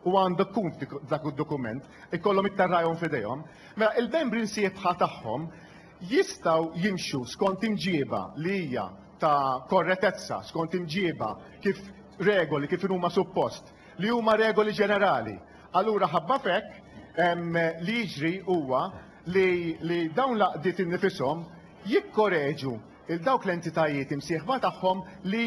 u għandha tkun f'dik dak id-dokument, ikollhom it-tarrajhom f'idejhom, mela il-membri msieħbħa tagħhom jistgħu jimxu skont imġieba li hija ta' korretezza, skont imġieba kif regoli kif huma suppost, li huma regoli ġenerali. Allura ħabba f'hekk em, li jiġri huwa li, li dawn l-għaqdiet innifishom jikkoreġu il dawk l-entitajiet imsieħba tagħhom li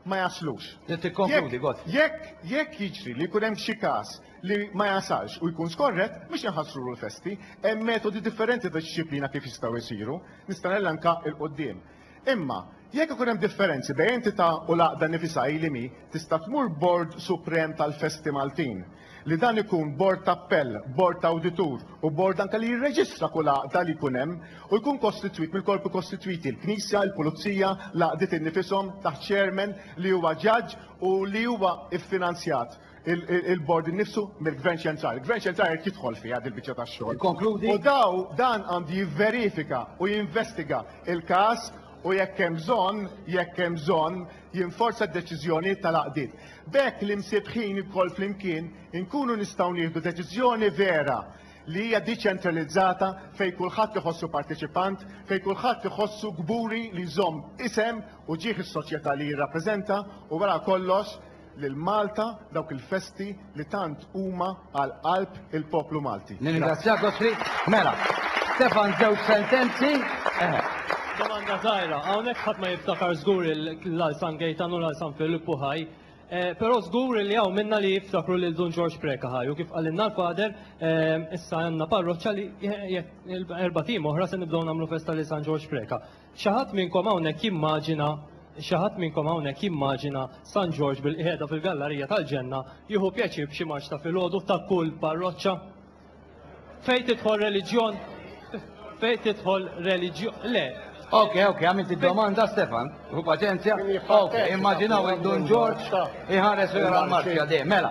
ma jaslux. Tikkonkludi, Gottfried. Jekk, jekk jiġri li jkun hemm xi każ li ma jasalx u jkun skorrett, mhux inħassrulu l-festi. Hemm metodi differenti ta' dixxiplina kif jistgħu jsiru. Nista' nelenka 'l quddiem. Imma, jekk ikun hemm differenzi bejn entità u l-għaqda nifisha hi li mhi, tista' tmur Bord Suprem tal-Festi Maltin. li dan ikun bord ta' appell, bord ta' awditur u bord anke li jirreġistra kull għaqda li jkun hemm u jkun kostitwit mill-korpi kostitwiti, il-Knisja, il-Pulizija, l-għaqdiet innifishom, taħt chairman li huwa ġaġġ u li huwa ffinanzjat il-bord innifsu mill-Gvern Ċentrali. Il-Gvern Ċentrali jrid jidħol fiha din il-biċċa tax-xogħol. Ikkonkludi. U daw dan għandu jivverifika u jinvestiga il-każ u jekk hemm bżonn, jekk hemm bżonn, jinforza d-deċiżjonijiet tal-għaqdiet. B'hekk l-imsiebbħin lkoll flimkien inkunu nistgħu nieħdu deċiżjoni vera li hija diċentralizzata fejn kulħadd iħossu parteċipant, fejn kulħadd iħossu kburi li jżomm isem u ġieħ is-soċjetà li jirrappreżenta u wara kollox lil Malta, dawk il-festi li tant huma għal qalb il-poplu Malti. Nirringrazzjak Gottfried. Mela, Stefan żewġ sentenzi. Domanda żgħira, hawnhekk ħadd ma jiftakar żgur il-Lal San Gejtan u l-Lal San Filippu ħaj, però żgur li hawn minna li jiftakru lil Dun Ġorġ Preca ħaj u kif qalilna l-Father issa għandna parroċċa li jekk erbat ijiem oħra se nibdew nagħmlu festa lil San Ġorġ Preca. Xi ħadd minnkom hawnhekk jimmaġina xi ħadd minnkom hawnhekk jimmaġina San Ġorġ bilqiegħda fil-gallarija tal-ġenna jieħu pjaċir b'xi marċ ta' filgħodu ta' kull parroċċa? Fejn tidħol reliġjon fejn tidħol reliġjon le, Ok, ok, għamilt id-domanda Stefan, u paċenzja. Ok, immaġinaw il-Dun Ġorġ iħares u jara l-marċja de. Mela,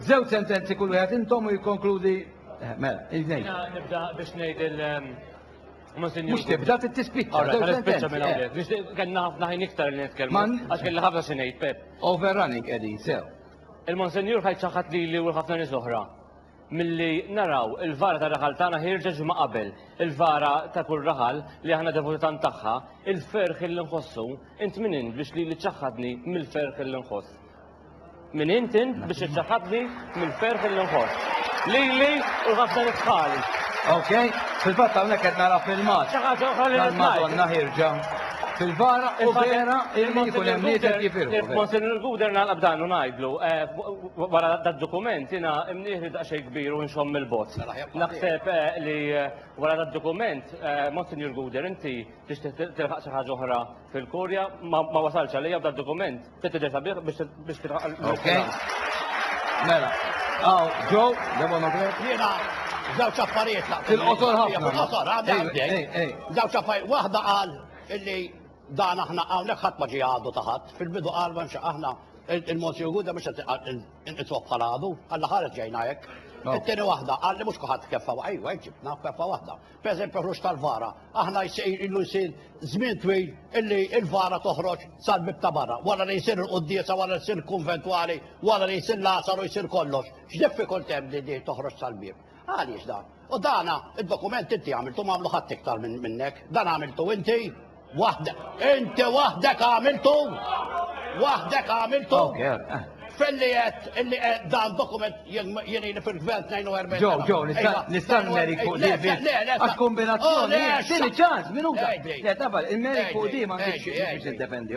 zew sentenzi kull wieħed intom u jikkonkludi. Eh, mela, il-nej. Nibda biex ngħid il- ehm, Mhux tibda trid tispiċċa. Kellna ħafna ħin iktar li nitkellmu għax kellna ħafna xi ngħid Pep. Overrunning qegħdin sew. Il-Monsenjur ħajt ċaħħad lili u ħafna nies oħra milli naraw il-vara ta' raħal tagħna ħirġa ġimgħa qabel, il-vara ta' kull raħal li aħna devuti tant tagħha, il-ferħ li nħossu, int min int biex li ċaħħadni mill-ferħ li nħoss. Min int int biex iċċaħħadni mill-ferħ li nħoss. Lili u ħafna nitħali. Ok, fil-fatt hawnhekk qed nara filmat. Xi ħaġa oħra li ngħid. Madonna ħirġa fil-vara u vera illi jkun hemm nieħed jifirħu. Monsignor Guder nagħlaq dan u ngħidlu eh, wara dad-dokument jiena imnieħri daqsxejn kbir u nxomm mill-bot. Naħseb eh, li eh, wara dad-dokument Monsignor Guder inti tixtieq tilħaq xi ħaġa oħra fil-Kurja ma wasalx għalija dad-dokument. Mela, għaw, ġo, devono Jena, zawċ affarijiet laqt. Il-qosor ħafna. Il-qosor, għadda għadda. Zawċ affarijiet, wahda għal illi dan aħna għawnek ħat maġi għadu taħat. Fil-bidu għal manxa aħna il-Monsi Uguda mux il-itwab bħal għadu, għalla ħaret ġejna jek. Il-tini wahda għalli mux kuħat keffa, għajwa, ġibna keffa wahda. Pereżempju ħruġ tal-vara, aħna jsir ilu jsir żmien twil illi l-vara toħroġ sal-bib ta' barra, wara li jsir il-quddiesa, wara li jsir il-kunventwali, wara li jsir l-għasaru jsir kollox. X'diffikult hemm li di toħroġ sal-bib? Għaliex dan? U dana id-dokument inti għamiltu m'għamlu ħadd iktar minnek. Dan għamiltu inti. Waħdek, inti waħdek għamiltu! Waħdek għamiltu! Felli għed illi dan dokument jeni li fil-gvern 42. Ġo, ġo, nistan merik fuq di biex. Għax kombinazzjoni, xini ċans, minuta. Le, tabal, il-merik fuq di ma nġiex biex id-defendi,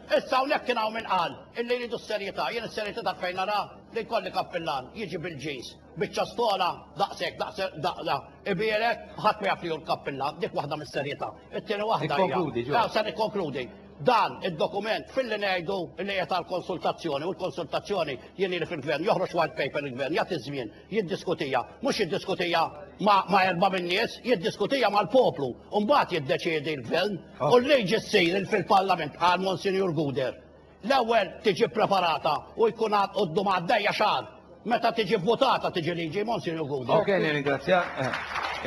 Issa hawnhekk kien hawn min qal illi jridu s-serjetà. Jien is-serjetà taf fejn naraha? Li jkolli kappillan jiġi bil-jeans, biċċa stola daqshekk, daqs daqqa, ibierek, ħadd ma jaf li hu l-kappillan, dik waħda mis-serjetà. It-tieni waħda hija. Ikkonkludi, Joe. Ew, se nikkonkludi. Dan id-dokument filli ngħidu illi qiegħed għall-konsultazzjoni, u l-konsultazzjoni jien ili fil-Gvern, joħroġ white paper il-Gvern, jagħti ż-żmien. jiddiskutiha, mhux jiddiskutiha ma', ma erba' min-nies, jiddiskutiha mal-poplu, u mbagħad jiddeċiedi l-gvern, oh. u l-liġi ssir fil-parlament għal Monsignor Guder. L-ewwel tiġi preparata u jkun għad qoddu għaddejja xahar. Meta tiġi votata tiġi liġi Monsignor Guder. Ok, nirringrazzja. Eh,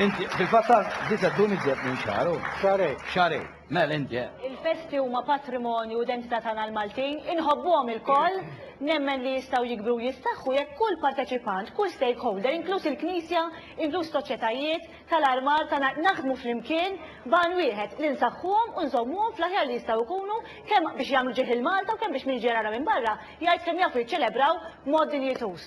inti fil-fatt disa tkun iżjed minn xahar. Xarej. Xarej. Mel inti eh. Il-festi huma patrimonju u identità tagħna l-Maltin, inħobbuhom ilkoll, nemmen li jistgħu jikbru u jistaħħu jekk kull parteċipant, kull stakeholder, inkluż il-Knisja, inkluż soċjetajiet, tal-armar tagħna naħdmu flimkien b'għan wieħed li nsaħħuhom u nżommuhom fl-aħjar li jistgħu jkunu kemm biex jagħmlu ġieħ lil Malta u kemm biex min ġej jara minn barra jgħid kemm jafu jiċċelebraw b'mod dinjituż.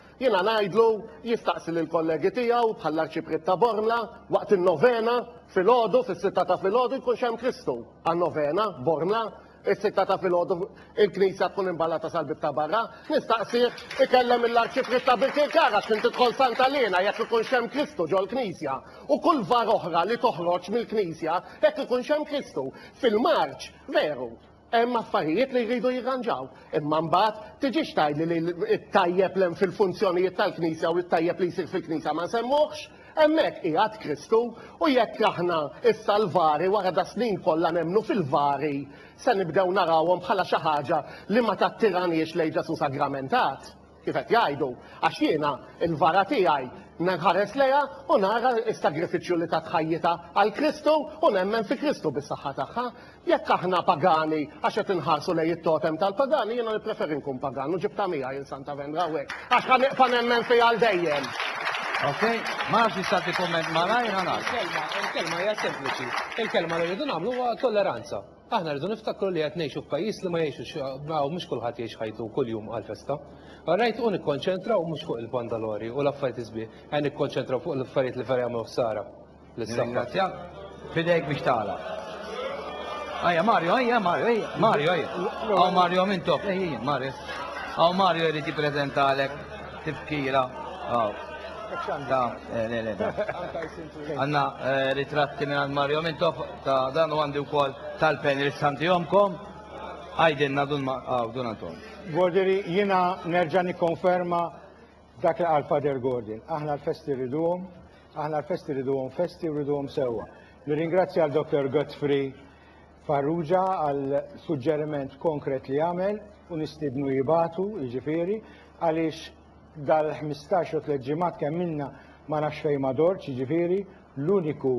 Jiena ngħidlu jistaqsi lill-kollegi tiegħu bħall-Arċipriet ta' Bormla waqt in-novena filgħodu fis-sitta ta' filgħodu jkunx hemm Kristu għan-novena Bormla is-sitta ta' filgħodu il-knisja tkun imballata sal-bieb ta' barra. Nistaqsih ikellem lill-Arċipriet ta' Birkirkar għax kien tidħol Santa Elena jekk ikunx hemm Kristu ġol-knisja u kull var oħra li toħroġ mill-knisja jekk ikunx hemm Kristu. Fil-Marċ veru. Hemm affarijiet li jridu jirranġaw, imma mbagħad tiġix tgħidli li t-tajjeb li hemm fil-funzjonijiet tal-Knisja u t-tajjeb li jsir fil-Knisja ma nsemmuhx? Hemmhekk qiegħed Kristu u jekk aħna issa l-vari wara das-snin kollha nemmnu fil-vari se nibdew narawhom bħala xi ħaġa li ma tattiraniex lejn Ġesù sagramentat? Kif qed jgħidu, għax jiena, il-vara tiegħi, nħares lejha u nara s-sagrifiċċju li tat ħajjitha għal Kristu u nemmen fi Kristu bis-saħħa tagħha. Jekk aħna pagani għax qed inħarsu lejn it-totem tal-pagani, jiena nippreferi nkun pagan u ġibtha miegħi il Santa Vendra hawnhekk għax ħa nibqa' nemmen fiha għal dejjem. Ok, ma nafx nista' tikkumment malajr ħana. Il-kelma hija sempliċi. Il-kelma li rridu nagħmlu huwa tolleranza. Aħna rridu niftakru li qed ngħixu f'pajjiż li ma jgħixux ma mhux kulħadd jgħix ħajtu kuljum għal festa. Rajt u nikkonċentraw mhux fuq il-pandalori u l-affarijiet isbieħ, qed nikkonċentraw fuq l-affarijiet li vera jagħmlu ħsara lis-saħħa. Fidejk biex tagħlaq. Ajja Mario, ajja Mario, ajja Mario, ajja. Aw Mario minn top, ejja Mario. Aw Mario jrid jippreżentalek tifkira. Aw. Da, eh, le, le, da. Għanna eh, ritratti minn Mario minn top. Ta dan u għandi wkoll tal-pen irid santihomkom. Għajdilna dun ma għaw dun għandhom. Gordiri, jiena nerġa' nikkonferma dak li qal Father Gordon. Aħna l-festi rriduhom, aħna l-festi rriduhom festi u rriduhom sewwa. Nirringrazzja għal Dr. Godfrey Farrugia għal suġġeriment konkret li għamel u nistidnu jibatu, jiġifieri, għaliex dal-15 u tliet ġimgħat kemm minna ma nafx fejn ma dorċ, jiġifieri, l-uniku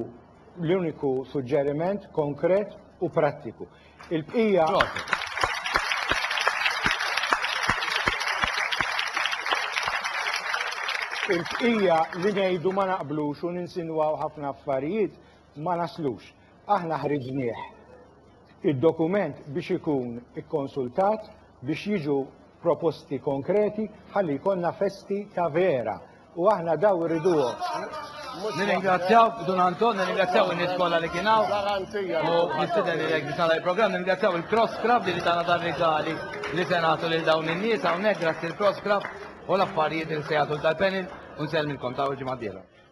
L-uniku suġġeriment konkret u prattiku. Il-bqija. Il-bqija li ngħidu ma naqblux u ninsinwaw ħafna affarijiet ma naslux. Aħna ħriġnieh id-dokument biex ikun ikkonsultat biex jiġu proposti konkreti ħalli jkollna festi ta' vera u aħna daw irriduhom. Nirringrazzjaw Dun Anton, nirringrazzjaw il-nies kollha li kien hawn. U nistiden li jekk biex nagħlaq il-programm, nirringrazzjaw il-Cross Club li tagħna dan rigali li se nagħtu lil dawn in-nies hawnhekk grazzi l-Cross Club u l-affarijiet li se jagħtu tal-panel u nsellmilkom ta' ġimgħa dieħla.